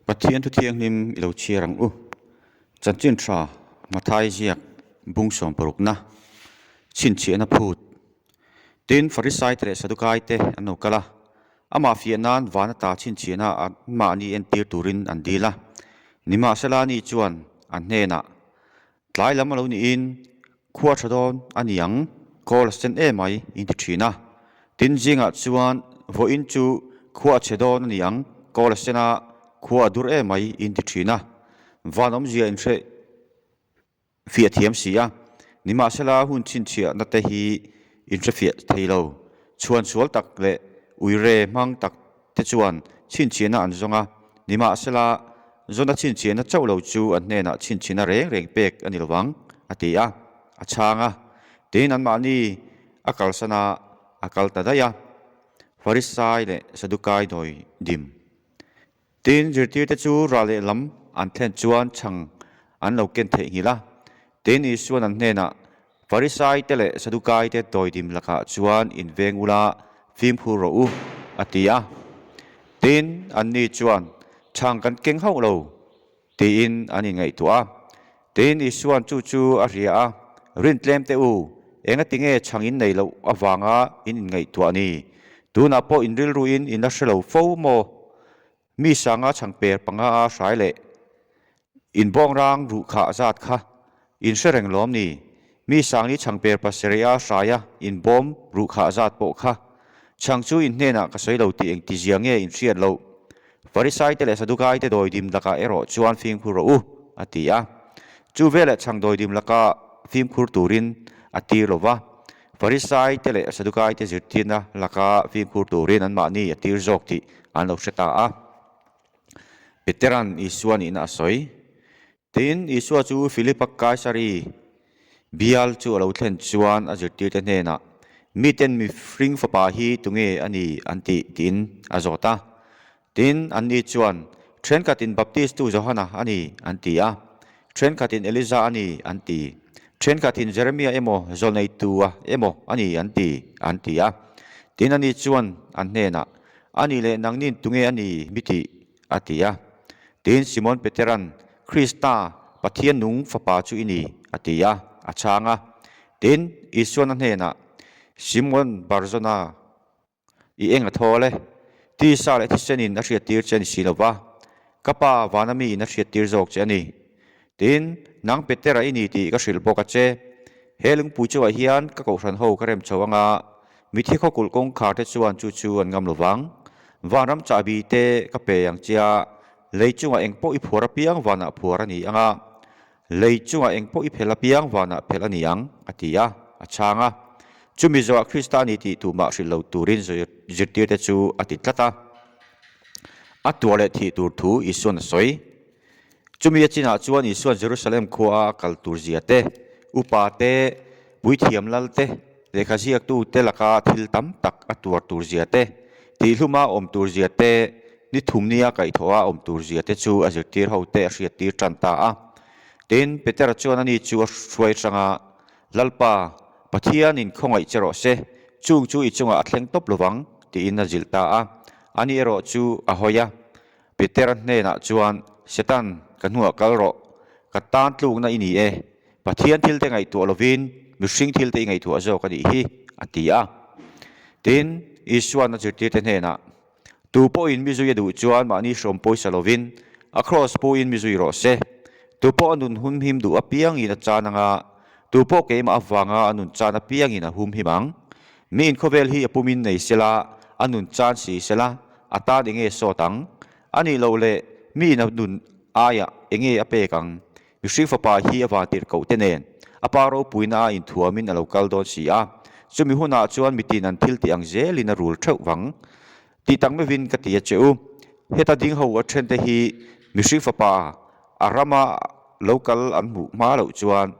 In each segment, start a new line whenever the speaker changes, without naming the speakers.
Pathian thu thianghlim i lo chhiar ang u. Chanchin tha, hmathai ziak, bungsawm parukna, chhinchhiahna phut. Tin, Farisai te leh Sadukai te an lo kal a, amah fiah nan van ata chhinchhiahna anmahni entir turin an dil a. Nimahsela ni chuan a hnenah Tlai lam a lo niin khua tha dawn a ni ang, Kawl a sen em ai in ti thin a. Tin zingah chuan vawiin chu khua a che dawn a ni ang, Kawl a sen a, khua a dur em ai in ti thin a. Van awmzia in hreh fiah a thiam si a, nimahsela hun chhinchhiahna te hi in hre fiah thei lo, chhuan sual tak leh uire hmang tak te chuan chhinchhiahna an zawng a, nimahsela Jona chhinchhiahna chauh lo chu an hnenah chhinchhiahna reng reng pek a ni lovang, a ti a. A chhang a, tiin anmahni a kalsan a, a kal ta daih a, Farisai leh Sadukai dawi dim. Tiin zirtirte chu ral leh lam an thlen chuan chhang an lo ken theih nghilh a, tiin Isuan an hnenah Farisaite leh Sadukaite tawidim lakah chuan inveng ula, fimkhur rawh u, a ti a. Tin, anni chuan, Chhang kan keng hauh lo, tiin an inngaihtuah a. Tiin Isua'n chu chu a hria a, Rin tlem teh u, engatinge chhang in nei loh avanga in inngaihtuah ni? Tunah pawh in rilruin in la hre lo fo maw? Mi sanga chhang per panga a hrai leh in bawng rang ruh khah zat kha in hre reng lawm ni? Mi sangni chhang per pasarih a hraia in bawm ruh khah zat pawh kha chhang chu in hnenah ka sawi lo tih eng tizia nge in hriat loh? Farisaite leh Sadukaite dawi dim lakah erawh chuan fimkhur rawh u a ti a. Chu velah chhang dawi dim laka fimkhur turin a tir lo va. Farisaite leh Sadukaite zirtirna laka fimkhur turin anmahni a tir zawk tih an lo hre ta a. Peteran Isua nihna a sawi. Tin, Isua chu Filipa Kaisari bial chu a lo thlen chuan a zirtirte hnenah, Miten mihring fapa hi tunge a ni an tih? tiin a zawt a. Tin, anni chuan, Ṭhenkhat in Baptistu Johana a ni, an ti a, ṭhenkhat in Elija a ni, an ti, ṭhenkhat in Jeremia emaw zawn eitu-a emaw a ni an ti, an ti a. Tin, anni chuan an hnenah, A ni leh nang nin tunge a ni mi tih? a ti a. Tin, Simon Petera'n, Krista, Pathian nung Fapa chu i ni, a ti a, a chhang a. Tin, Isua'n a hnenah, Simon Barzona, I eng a thawl e. Tisa leh thisen in a hriat tir che ni si lo va, ka pa vana mi in a hriat tir zawk che a ni. Tiin, nang Petera i ni tih ka hrilh bawk a che. He lungpui chauhah hian ka kohhran ho ka rem chho anga, mithe khawkulh kawngkhar te chuan chu chu an ngam lo vang. Vanram chahbi te ka pe ang che a, lei chungah eng pawh i phuar apiang vanah phuar a ni anga, Lei chungah eng pawh i phelh a, piang vanah phelh a ni ang, a ti a, a chhang a. Chu Mizoah Krista a ni tih tumah hrilh lo turin zirtirte chu a ti tlat a. A tuah leh thih tur thu Isuan a sawi. Chumi a chinah chuan Isuan Jerusalem khua a a kal tur zia te, upa te, Puithiam lal te, lehkha ziaktu te laka thil tam tak a tuar tur zia te, tihhluma awm tur zia te, ni thum nia kaih thawh a awm tur zia te chu a zirtir ho te a hriat tir tan ta a. Tin, Petera chuan a ni chu a hruai hrang a, Lalpa, Pathianin khawngaih che rawh se, chung chu i chungah a thleng tawp lo vang, tiin a zilh ta a. A ni erawh chu a hawi a. Peter hnenah chuan, Satan, ka hnuah kal rawh, ka tan tlukna i ni e, Pathian thil te ngaihtuah lovin mihring thil te i ngaihtuah zawk a nih hi, a ti a. Tin, Isuana zirtirte hnenah, Tu pawhin mi zui a duh chuan mahni hrawm pawisa lovin a kraws puin mi zui rawh se. Tu pawh a nun humhim duh apiangin a chan anga, tu pawh keimah avanga a nun chan apiangin a humhim ang. Mi inkhawvel hi a pumin nei sia la, a nun chan si sia la, a tan enge sawt ang? A nih loh le, mi ina nun aiah enge a pek ang? Mihring fapa hi a vantir kohte nen a pa ropuina a inthuamin a lo kal dawn si a, chumi hunah chuan mitin an thil tih ang zelin a rul theuh vang. Tih tak mevin ka ti a che u, heta ding ho a then te hi mihring fapa a rama lo kal an hmuh hma loh chuan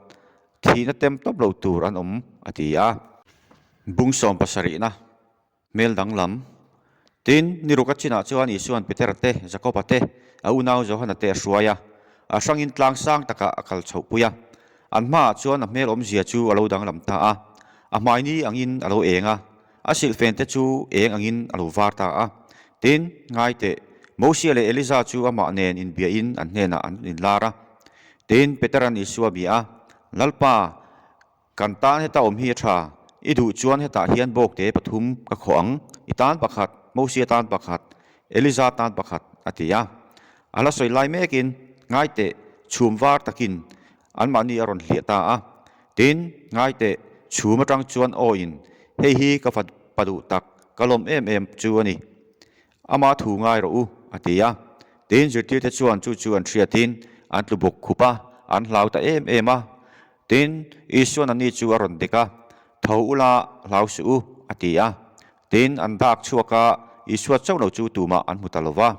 thihna tem tawp lo tur an awm a ti a. Bung sawm pasarihna, hmel danglam. Tin, ni ruka chinah chuan Isua'n Peter te, Jakoba te, a unau Johana te a hruai a, a hrangin tlang sang takah a kal chhohpui a. An hmaah chuan a hmel awmzia chu a lo danglam ta a, a hmaini angin a lo eng a. A silhfente chu êng angin a lo vâr ta a. Tin, ngai teh, Mosia leh Eliza chu amah nên inbiahin an hnênah an in lâr a. Tin, Petera'n Isua a bia a, Lalpa, kan tân heta awm hi a ṭha, i duh chuan hetah hian bâwkte pathum ka khawh ang, i tân pakhat, Mosia tân pakhat, Eliza tân pakhat, a ti a. A hla sawi lai mêkin, ngai teh, chhûm vâr takin, anmahni a rawn hliah ta a. Tin, ngaite chhum atang chuan aw in, hei hi ka fat pa duh tak, ka lawm em em chu a ni. Amah thu ngai rawh u, a ti a. Tin, zirtirte chuan chu chu an hriatin an tlubuk khup a, an hlau ta em em a. Tin, Isuan a ni chu a rawn dik a, tho u la, hlau suh u, a ti a. Tin, an dak chhuak a, Isua chauh lo chu tumah an hmu ta lo va.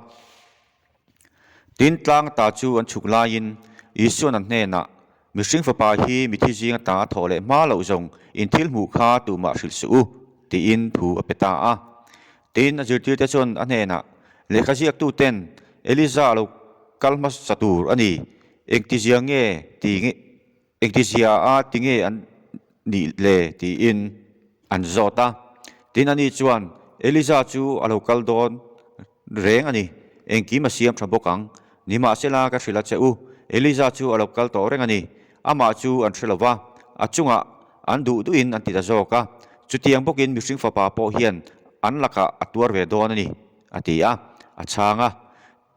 Tin, tlang ta chu an chhuk laiin Isua na hnenah, Mihring Fapa hi mithi zing ata a thawh leh hma loh zawng in thil hmuh kha tumah hrilh suh u, tiin thu a pe ta a. Tin, a zirtirte chuan a hnenah, Lehkha ziaktuten Elijah lo kal hmasa tur a ni, engtiziange ti ngih? Engtizia a tinge an nih le? tiin an zawt a. Tin a ni chuan, Eliza chu a lo kal dawn reng a ni. Engkim a siam tha bawk ang. Nimahsela ka hrilh a che u, Eliza chu a lo kal tawh reng a ni. Amah chu an hre lova, a chungah an duh duhin an ti ta zawk a. Chutiang bawkin mihring fapa pawh hian an lakah a tuar ve dawn a ni, a ti a. A chhang a.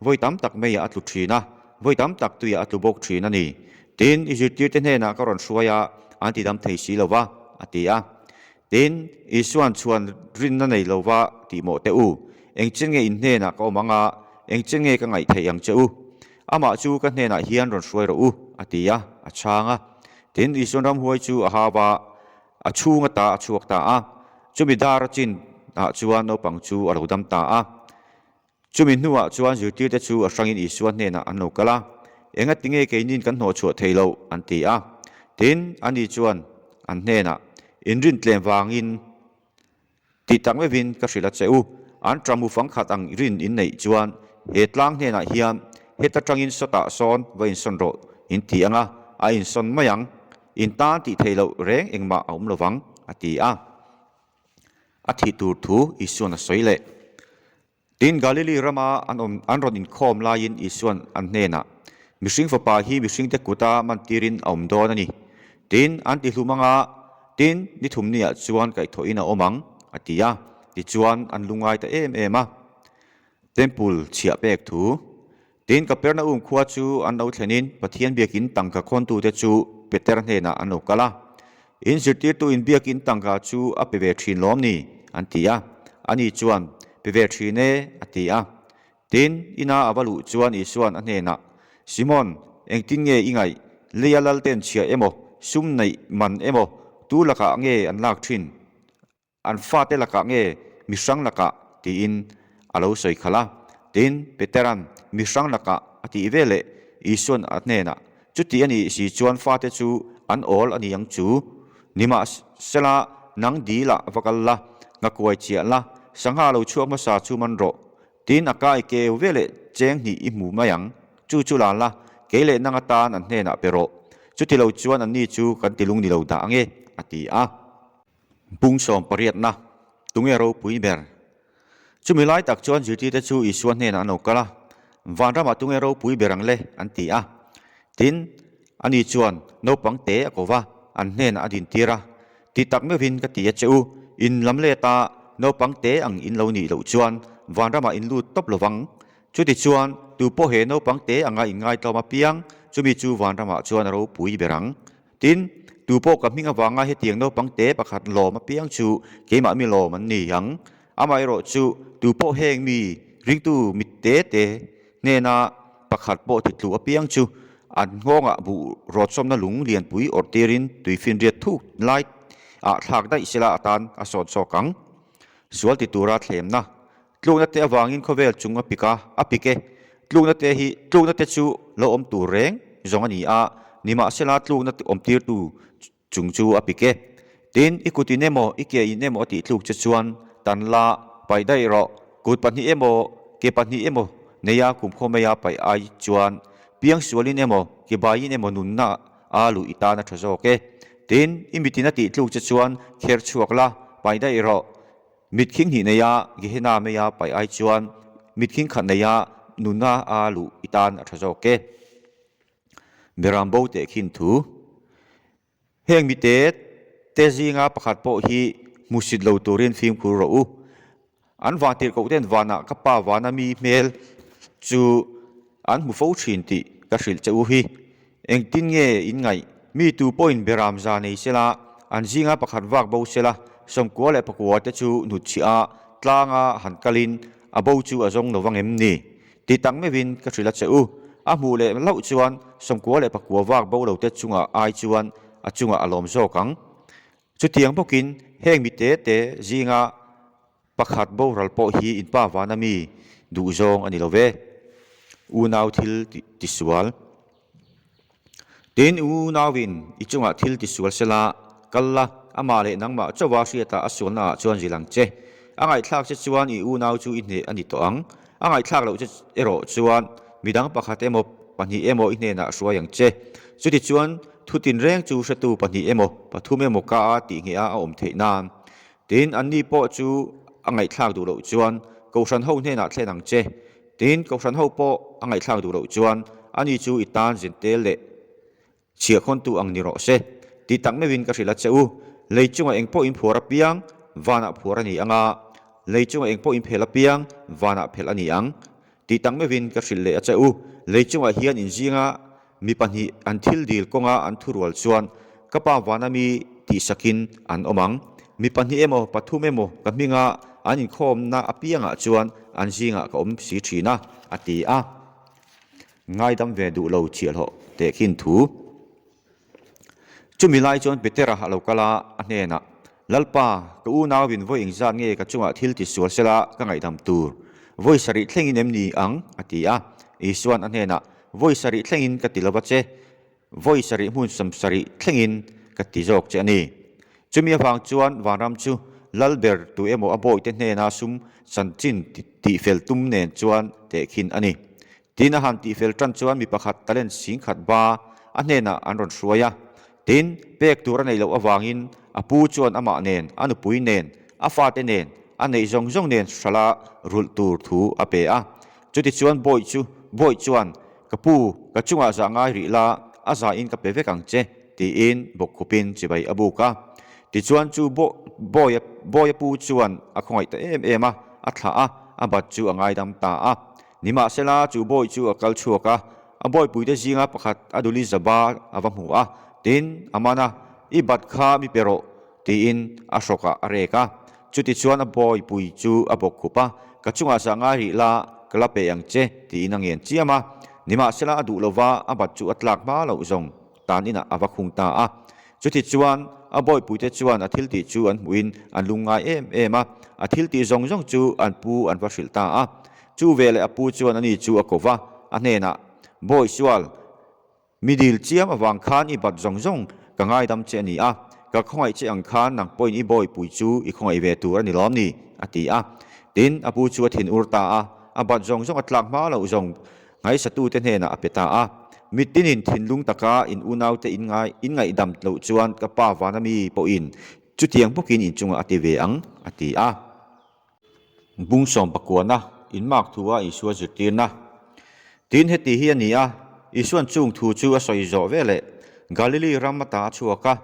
Vawi tam tak meiah a tlu ṭhin a, vawi tam tak tuiah a tlu bawk ṭhin a ni. Tin, Isiptite hnenah ka rawn hruai a, an tidam thei si lo va, a ti a. Tin, Isuan chhuan rin na nei lo va, tih mawh teh u. Engchin nge in hnenah ka awm ang a, engchin nge ka ngaih theih ang che u. Amah chu ka hnenah hian rawn hruai rawh u, a ti a, a chhang a. Tin, Isuan ramhuai chu a hau a, a chhunga ta a chhuak ta a. Chumi dar a chin ah chuan naupang chu a lo dam ta a. Chumi hnuah chuan zirtirte chu a hrangin Isua hnenah an lo kal a, Engatinge keinin kan hnawh chhuah thei loh? an ti a. Tin, ani chuan an hnenah, In rin tlem vangin tih tak mevin ka hrilh a che u. An ṭam u fang khat ang i rin in neih chuan he tlang hnenah hian, Heta ṭangin saw tah sawn va insawn rawh, in ti anga, a insawn mai ang. In tan tih thei loh reng engmah a awm lo vang, a ti a. a thih tur thu Isuan a sawi leh. Tin, Galili rama an awm an rawn inkhawm laiin Isuan an hnenah, Mihring Fapa hi mihringte kuta man tirin a awm dawn a ni. Tin, an ti hlum anga, Tin, ni thumniah chuan kaihthawhin a awm ang, a ti a. Tichuan, an lu ngai ta em em a. Temple chhiah pek thu. Tin, Kapernaum khua chu an lo thlenin Pathian biakin tangka khawntute chu Peter hnenah an lo kal a, In zirtirtuin biakin tangka chu a pe ve thin lawm ni? an ti a. Ani chuan, Pe ve thin e, a ti a. Tin, ina a va luh chuan Isua'n a hnenah, Simon, engtin nge i ngaih? Leia lal ten chhia emaw, sum neih man emaw, tu lakah nge an lak thin? An fate lakah nge mihrang lakah? tiin a lo sawi khalh a. Tin, Peteran, Mihrang lakah a tih ve leh Isuan a hnenah, Chuti a nih si chuan fate chu an awl a ni ang chu. Nimahsela, nang dilah va kal la, ngakuai chiah la, sangha lo chhuak hmasa chu man rawh. Tin, a kai keu ve leh cheng hnih i hmu mai ang. Chu chu la la, kei leh nanga tan an hnenah pe rawh. Chuti lo chuan anni chu kan ti lung ni lo dah ange, a ti a. Pung sawm pariatna, tunge ropui ber? Chumi lai tak chuan Zirtirte chu Isua hnenah an lo kal a, Vanramah tunge ropui ber ang le? an ti a. Tin, ani chuan, Naupang te a kova, an hnenah a dintir a, ti tak meuhin ka ti a che u, in lam let a naupang te ang in lo nih loh chuan Vanramah in lut tawp lovang. Chutichuan, tupawh he naupang te anga in ngaitlawm apiang, chumi chu Vanramah chuan a ropui ber ang. Tin, tu pawh ka hming avanga hetiang naupang te pakhat lawm apiang chu keimah mi lawm an ni ang. Amaherawh chu, tu pawh heng mi ringtu mit te te hnena pakhat pawh thitluh apiang chu an nghawngah buh rawtchawmna lung lianpui awrh tirin tui finriat thuk lai ah thlak daih sela atan a sawn chawk ang. Sual ti tura thlemna Tlukna te avangin khawvel chung a pik a, a pik e. Tlukna te hi, tlukna te chu lo awm tur reng zawng a ni a, nimahsela tlukna awmtirtu chung chu a pik e. Tin, i kut in emaw, i ke in emaw a tihtluk che chuan tan la, paih daih rawh, kut pahnih emaw, ke pahnih emaw neia kum khaw maia paih ai chuan piang sualin emaw, ke baiin emaw nunna a luh i tan a tha zawk e. Tin, i mitin a tihtluk che chuan kher chhuak la, paih daih rawh, Mitthing hnih neia Gehena meia paih ai chuan mitthing khat neia nuna a luh i tan a tha zawk e. Miram bo teh khin thu. Heng mite te zinga pakhat pawh hi hmusit lo turin fimkhur rawh u. An vang tirh koh ten vanah ka pa vana mi hmel chu An hmu fo thin tih ka hrilh che u hi. Engtin nge in ngaih? Mi tu pawhin Beram za nei sela, an zinga pakhat vak bo sela Sawmkua leh Pakua te chu hnutchhia a tlanga han kalin a bo chu a zawng lo vang em ni? Ti tak meuhin ka hrilh a che u. A hmuh leh hlauh chuan Sawmkua leh Pakua vak bo lo te chunga ai chuan a chungah a lawm zawk ang. Chutiang bawkin heng mi te te zinga Pakhat boral pawh hi in pa vana mi duh zawng a ni lo ve. Unau thil ti sual. Tin, unauin i chungah thil ti sual se la, kal la, amah leh nangmah chauha hriatah a sualnaah chuan zil ang che. A ngaihthlak che chuan i unau chu i hneh a ni tawh ang. A ngaihthlak loh che erawh chuan midang pakhat emaw pahnih emaw i hnenah a hruai ang che. Chutichuan, thutinreng chu hretu pahnih emaw pathum emaw ka a tih ngheh a a awm theih nan Tin, anni pawh chu a ngaihthlak duh loh chuan Kohhran ho hnenah thlen ang che. Tin, Kohhran ho pawh a ngaihthlak duh loh chuan ani chu i tan zinte leh chhiah khawntu ang ni rawh se. Tih tak meuhin ka hrilh a che u. Lei chungah eng pawhin phuar a piang, vanah phuar a ni anga, lei chungah eng pawhin phelh a piang, vanah phelh a ni ang. Tih tak meuhin ka hrilh leh a che u. Lei chungah hian in zinga mi pahnih an thil dil kawnga an thu rual chuan ka pa van a mi tih sakin an awm ang. Mi pahnih emaw pathum emaw ka hminga an inkhawmna apiangah chuan an zingah ka awm si thin a, a ti a. Ngaidam ve duh lo chiah hlawh teh khin thu. Chumi lai chuan Petera a lo kal a, a hnenah, Lalpa, ka unau in vawiin zat nge ka chungah thil ti sual sela ka ngaihdam tur? Vawi sarih thlengin em ni ang? a ti a. Isua'n a hnenah, Vawi sarih thlengin ka ti lo va che. Vawi sarih hmunsam sarih thlengin ka ti zawk che a ni. Chumi avang chuan vanram chu lal ber tu emaw a bawihte hnena sum chanchin tih fel tum nen chuan tehkhin a ni. Tiin a han tihfel tan chuan mi pakhat talent sing khat ba a hnenah an rawn hruai a. Tin, pek tur a neih loh avangin a pu chuan amah nen, a nupui nen, a fate nen, a neih zawng zawng nen hrala rulh tur thu a pe a. Chutichuan Bawiht chu Bawiht chuan, Ka pu, ka chungah zah ngai rih la, a zahin ka pe vek ang che, tiin bawkkhupin chibai a buk a. Tichuan chu Bawiht Bawiht a pu chuan a khawngaih ta em em a, a thlah a, a bat chu a ngaidam ta a. Nimahsela, chu bawi chu a kal chhuak a, a bawipuite zinga pakhat a duli zaba a va hmu a, tin, Amana, i bat kha mi pe rawh, tiin a hrawkah a rek a. Chutichuan a bawipui chu a bawk khup a, Ka chungah sa ngai rih la, ka la pe ang che, tiin a ngen chiam a. Nimahsela a duh lova a bat chu a tlak hma loh zawng. Tan inah a va khung ta a. Chutichuan, a bawipuite chuan a thiltih chu an hmuhin an lung ngai em em a. A thiltih zawng zawng chu an pu an va hrilh ta a. Chu ve leh a pu chuan a ni chu a ko va, a hnenah, Bawi sual, mi dil chiam avang khan i bat zawng zawng ka ngaidam che a ni a, ka khawngaih che ang khan nang pawhin i bawipui chu i khawngaih ve tur a ni lawm ni? a ti a. Tin, a pu chu a thin ur ta a, a bat zawng zawng a tlak hma lo zawng. Nghaisatute hnenah a pe ta a, Mitinin thinlung taka in unaute in ngai in ngaihdam loh chuan ka pa Vanami pawhin chutiang bukin inchunga a ti ve ang, a ti a. Bung sawm pakuana, in mak thu a Isua zirtirna. Tin heti hi a ni a, Isuan chung thu chu a sawi zawh ve leh Galili ram a ta a chhuak a,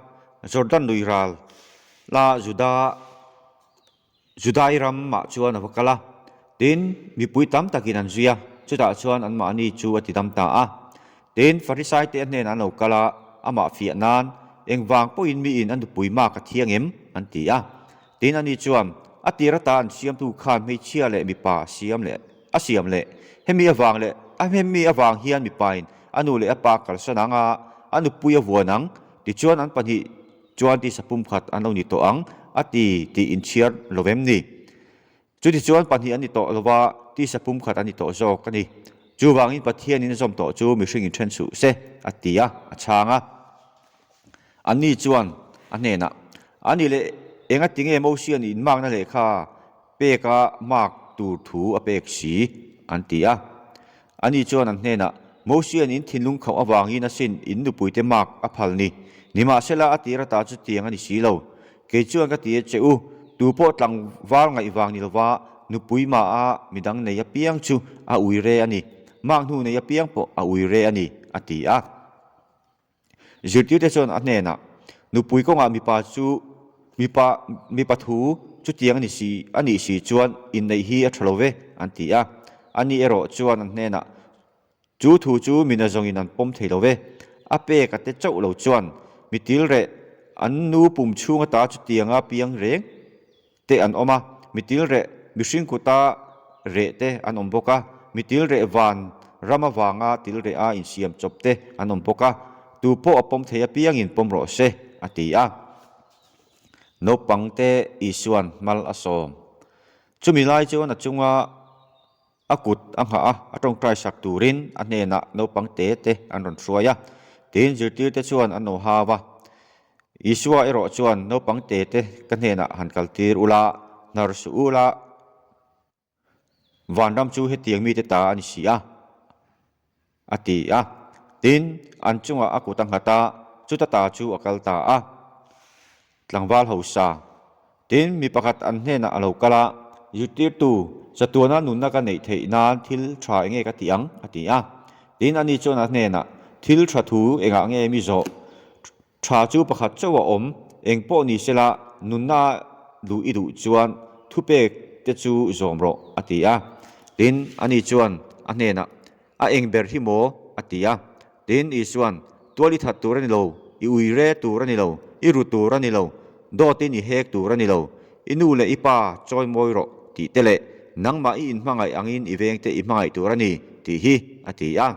Jordan nui ral la Juda Judai ram mah chuan a va kal a, tin mipui tam tak in an zui a, chutah chuan an mahni chu a ti dam ta a, tin Farisai te hnenah an lo kal a, amah fiah nan engvang pawh in mi in a nupui mak a thiang em? an ti a, tin ani chuan a tir ata an siamtu khan hmeichhia leh mipa a siam leh a siam leh hemi avang leh a hemi avang hian mipa in a nu leh a pa a kalsan ang a, a nupui a vuan ang tichuan an pahnih Chuan tisa pumkhat an lo ni tawh ang a ti tih in chhiar lo em ni? Chuti chuan pahnih an ni tawh lo va, tisa pumkhat an ni tawh zawk a ni. Chuvangin Pathianin a zawm tawh chu mihring in then suh se a ti a, a chhang a. Anni chuan a hnenah, A ni le, enga tinge Mosian in makna lehkha peka mak tur thu a pek si? an ti a. Ani chuan an hnenah, Mosianin thinlung khauh avangin a sin in nupuite mark a phal ni. Nimahsela a tir atah chu tiang a ni si lo. Kei chuan ka ti e che u, tu pawh tlangval ngaih vang ni lova nupui maha midang nei apiang chu a ui re a ni. Mark hnu nei apiang pawh a ui re a ni, a ti a. Zirtirte chuan a hnenah, Nupui kawngah mipa chu mipa mipa thu chutiang a ni si a nih si chuan inneih hi a tha lo ve an ti a. A ni erawh chuan an hnenah, Chu thu chu mina zawngin an pawm thei lo ve. A pek a te chauh lo chuan mitil reh an nu pum chhunga ta chutianga piang reng. te an awm a, mitil reh mihring kuta reh te an awm bawk a, mitil reh van ram avanga til reh a insiam chawp te an awm bawk a, tu pawh a pawm thei apiangin pawm rawh se a ti a. Naupangte Isuan hmal a sawm. Chumi lai chuan a chunga. A kut a nghah a, a tawngtai sak turin a hnenah naupang te te an rawn hruai a. Tiin zirtirte chuan an aw hau a, Isua erawh chuan naupang te te ka hnenah han kaltir ula, hnar suh ula, vanram chu hetiang mite ta a ni si a. A ti a, tin an chungah a kut a nghat a, chuta ta chu a kal ta a. Tlangval hausa, tin mi pakhat an hnenah a lo kal a, Zirtirtu, chatuana nunna ka neih theih nan thil tha enge ka tih ang? a ti a. Tin ani chuan a hnenah, Thil tha thu engah nge mi zawh? Tha chu pakhat chauh a awm, eng pawh ni sela nunna duh i duh chuan thupek te chu zawm rawh, a ti a. Tin, ani chuan a hnenah, A eng ber hi maw? a ti a. Tin, i chuan, Tual i that tur a ni lo, i ui re tur a ni lo, i ru tur a ni lo, dawtin i hek tur a ni lo, i nu leh i pa chawi mawi rawh tih te leh nangmah i inhmangaih angin i vengte i hmangaih tur a ni tih hi a ti a.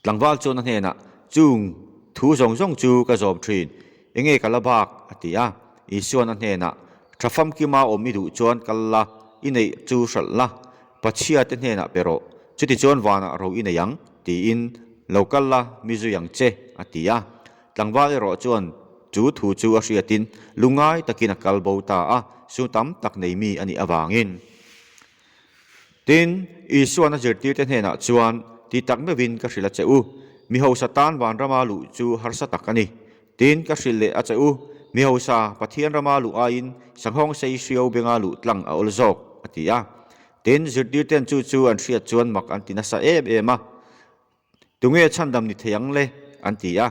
Tlangval chuan a hnenah, Chung, thu zawng zawng chu ka zawm thin. Enge ka la bak? a ti a. Isua'n a hnenah, Tha famkima awm i duh chuan kal la, i neih chu hralh la. Pathian te hnenah pe rawh, chuti chuan vanah ro i nei ang, tiin lo kal la mi zui ang che, a ti a. Tlangval erawh chuan chu thu chu a hriatin, lungngai takin a kal bo ta a, su tam tak neimi a nih avangin. Tin, Isua an a zirtirte hnenah chuan, Ti tak meuhin ka hrilh a che u. Mi hausa tan vanrama luh chu harsa tak a ni. Tin, ka hrilh leh a che u. Mi hausa Pathian rama luh aiin sanghawng sei hrio benga luh tlang a awl zawk, a ti a. Tin, zirtirte'n chu chu an hriat chuan mak an ti nasa em em a. Tunge chhandam ni thei ang le? an ti a.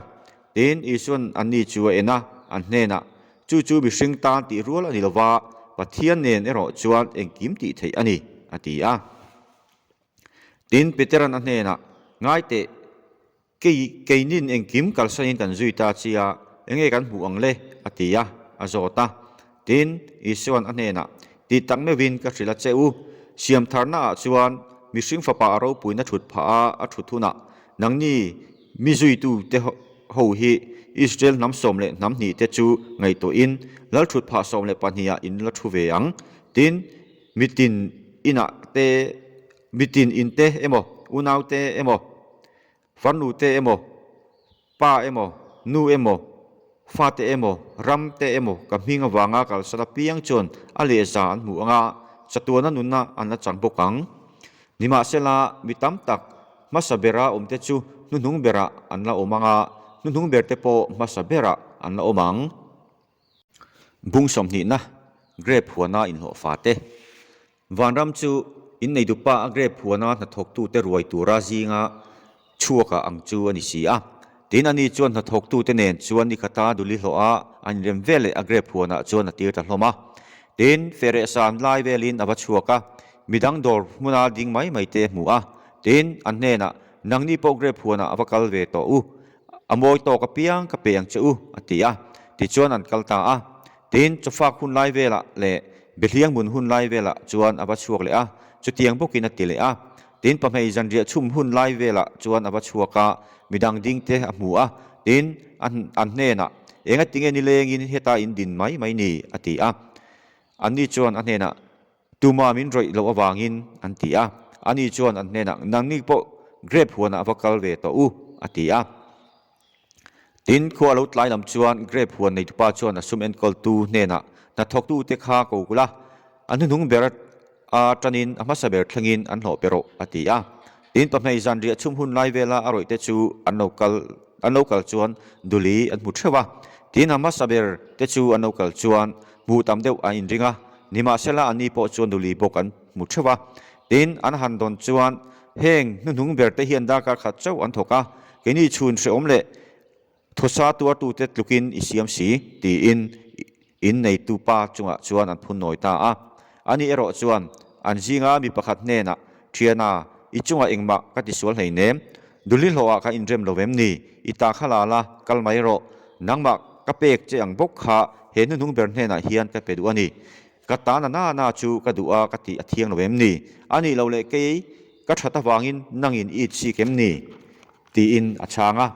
Tin, Isua'n an ni chu a en a, an hnenah, Chu chu mihring tan tih rual a ni lova, Pathian nen erawh chuan engkim tih theih a ni, a ti a. Tin, Peter'n a hnenah, Ngai teh, kei keinin engkim kalsain kan zui ta chia, enge kan hmuh ang le? a ti a, a zawt a. Tin, Isuan a hnenah, Ti tak meuhin ka hrilh a che u. Siamtharna ah chuan mihring fapa a ropuina thut phah a, a thut hunah, Nangni mi zuitu te ho hi Israel hnam sawm leh hnam hnih te chu ngaihtuahin lal thut phah sawm leh pahnih ah in la thu ve ang. Tin, mitin inah te, mitin in te emaw, unaute emaw Varnute emaw, pa emaw, nu emaw, fate emaw, ram te emaw ka hming avanga kalsan apiang chuan a lehza an hmuh anga chatuana nuna an la chang bawk ang. Nimahsela, mi tam tak hmasa bera awmte chu hnuhnung berah an la awm anga, hnuhnung berte pawh hmasa berah an la awm ang. Bung sawmhnihna, Grape huana inhlawh fate. Vanram chu inneidupa a grape huana hnathawktute ruai tura zinga chhuaka ang chu a ni si a. Tin, ani chuan hnathawktute nen chuan ni khata dul i hlawh a, an inrem ve leh a grape huanah chuan a tir ta hlawm a. Tin, Ferehsan lai velin a va chhuak a, midang dawr hmuna ding mai mai te hmu a. Tin, an hnenah, Nangni pawh grape huanah a va kal ve tawh u. A mawi tawk apiang ka pe ang che u, a ti a, tichuan an kal ta a. Tin, chawfak hun lai velah leh biathliang hmun hun lai velah chuan a va chhuak leh a, chutiang bawkin a ti leh a. Tin, pahmei zanriah chhum hun lai velah chuan a va chhuak a, midang ding te a hmu a. Tin, an an hnenah, Engatinge nilengin heta in din mai mai ni? a ti a. Anni chuan a hnenah, Tuma min rawih loh avangin an ti a. Ani chuan an hnenah, Nangni pawh grape huanah va kal ve tawh u, a ti a. Tin, khua a lo tlai lam chuan grape huan neitu pa chuan a sum enkawltu hnenah, Hnathawktute kha ko kul a, a hnuhnung ber a tanin a hmasa ber thlengin an hlawh pe rawh, a ti a. In pahnei zan riah chhum hun lai vela a rawihte chu an lo kal an lo kal chuan duli an hmu theuh a, tin a hmasa ber te chu an lo kal chuan hmuh tam deuh an inring a, nimahsela anni pawh chuan duli bawk an hmu theuh a, tin an han dawn chuan heng hnuhnung berte hian darkar khat chauh an thawk a, keini chhun hrehawm leh Thusa tu a tute tlukin i siam si, tiin in neitu pa chungah chuan an phun nawi ta a. A nih erawh chuan an zinga mi pakhat hnenah, Ṭhiana, i chungah engmah ka ti sual hleinem? Dulhlihlawha ka inrem lo em ni? I ta kha la la, kal mai rawh. Nangmah ka pek che ang bawk kha he hnuhnung ber hnenah hian ka pe duh a ni. Ka tana nana chu ka duh a ka tih a thiang lo em ni? A nih loh leh kei ka ṭhat avangin nangin i chik em ni? Tiin a chhang a.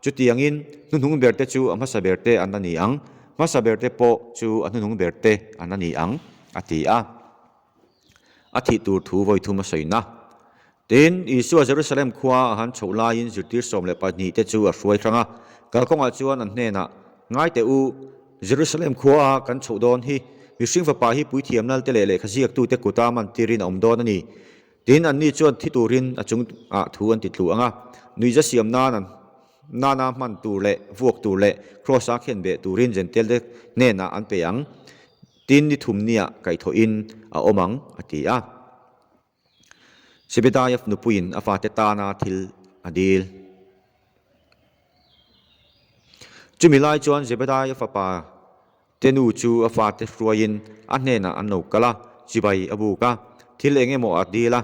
Chutiangin hnuhnung berte chu a hmasa berte an la ni ang, hmasa berte pawh chu a hnuhnung berte an la ni ang a ti a. A thih tur thu vawithum a sawi na. Tiin Isua Jerusalem khua a han chhoh laiin zirtir sawm leh pahnihte chu a hruai hrang a. Kalkawngah chuan an hnenah, Ngaite u, Jerusalem khua a kan chhoh dawn hi, Mihring Fapa hi puithiam lalte leh lehkha ziaktute kuta man tirin a awm dawn a ni. Tin, anni chuan thi turin a chung ah thu an ti tlu ang a, nuihza siam nan an nana hman tur leh vuak tur leh Kraws a khian beh turin Jentail te hnenah an pe ang tin ni thumnia kaihthawhin a awm ang, a ti a. Sebedaiav nupuiin a fate tana thil a dil. Chumi lai chuan Zebedaiav fapa. Tenu chu a fate hruaiin a hnenah an lo kal a, chibai a buk a, thil eng emaw a dil a.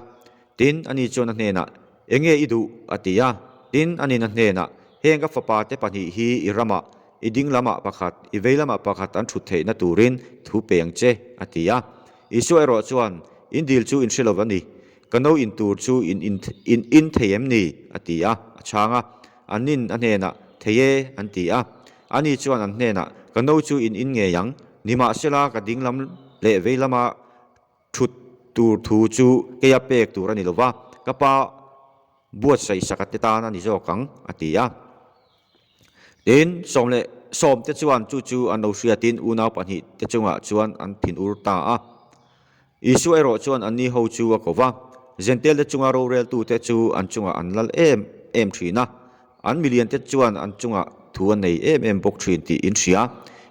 Tin, ani chuan a hnenah, Enge i duh? a ti a. Tin, anin a hnenah, Heng ka fapa te pahnih hi i ramah, i ding lamah pakhat, i vei lamah pakhat an thut theihna turin thu peng che, a ti a. Isua erawh chuan, In dil chu in hre lo a ni. Ka no in tur chu in in in in thei em ni? a ti a, a chhang a. Anin a hnenah, Thei e, an ti a. Ani chuan an hnenah, Ka no chu in in ngei ang, nimahsela ka dinglam leh veilama thut tur thu chu kei a pek tur a ni lova, ka pa buatsaih saka te tan a ni zawk ang, a ti a. Tin, Sawm leh Sawm te chuan chu chu an lo hriatin unau pahnih te chungah chuan an thin ur ta a. Isua erawh chuan an niho chu a ko va, Jentalte chunga roreltute chu an chungah an lal em em thin a, an miliante chuan an chungah thu an nei em em bawk thin tih in hria.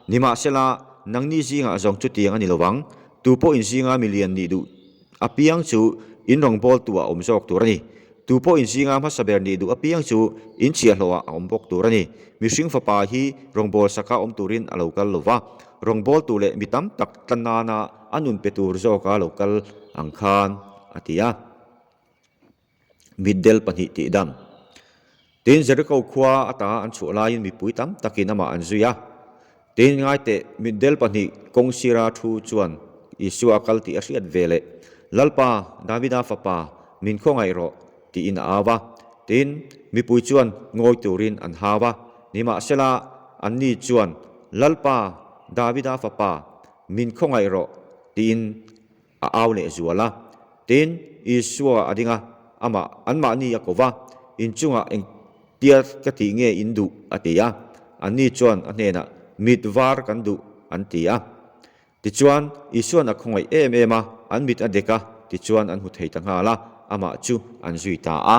Nimahsela, nangni zingah zawng chutiang a ni lovang, tu pawh in zinga milian nih duh apiang chu in rawngbâwl tuah a awm zawk tur a ni. Tu pawh in zinga hmasa ber nih duh apiang chu in chhiahhlawha a awm bawk tur a ni. Mihring fapa hi rawngbâwl sakah awm turin a lo kal lo va, rawngbâwl tu leh mi tam tak tla nâna, A nun pe tur zawk a lo kal ang khan a ti a, mitdel pahnih tih dam. Tin, Jericho khua atanga an chhuah laiin mipui tam takin amah an zui a. Tin, ngaiteh mitdel pahnih kawng sira thu chuan Isua a kal tih a hriat ve leh, Lalpa, Davida Fapa, min khaw ngaih rawh, tiin a au a. Tin, mipui chuan ngawi turin an hau a. Nimahsela, anni chuan, Lalpa, Davida Fapa, Min khaw ngaih rawh, tiin a au leh zual a. Tin, Isua a ding a, amah, anmahni a kova, inchungah eng tial ka tih nge in duh? a ti a. Anni chuan a hnenah, Mit var kan duh, an ti a. Tichuan, Isuan a khaw ngaih em em a, an mit a dek a, tichuan an hmu thei ta nghal a, amah chu an zui ta a.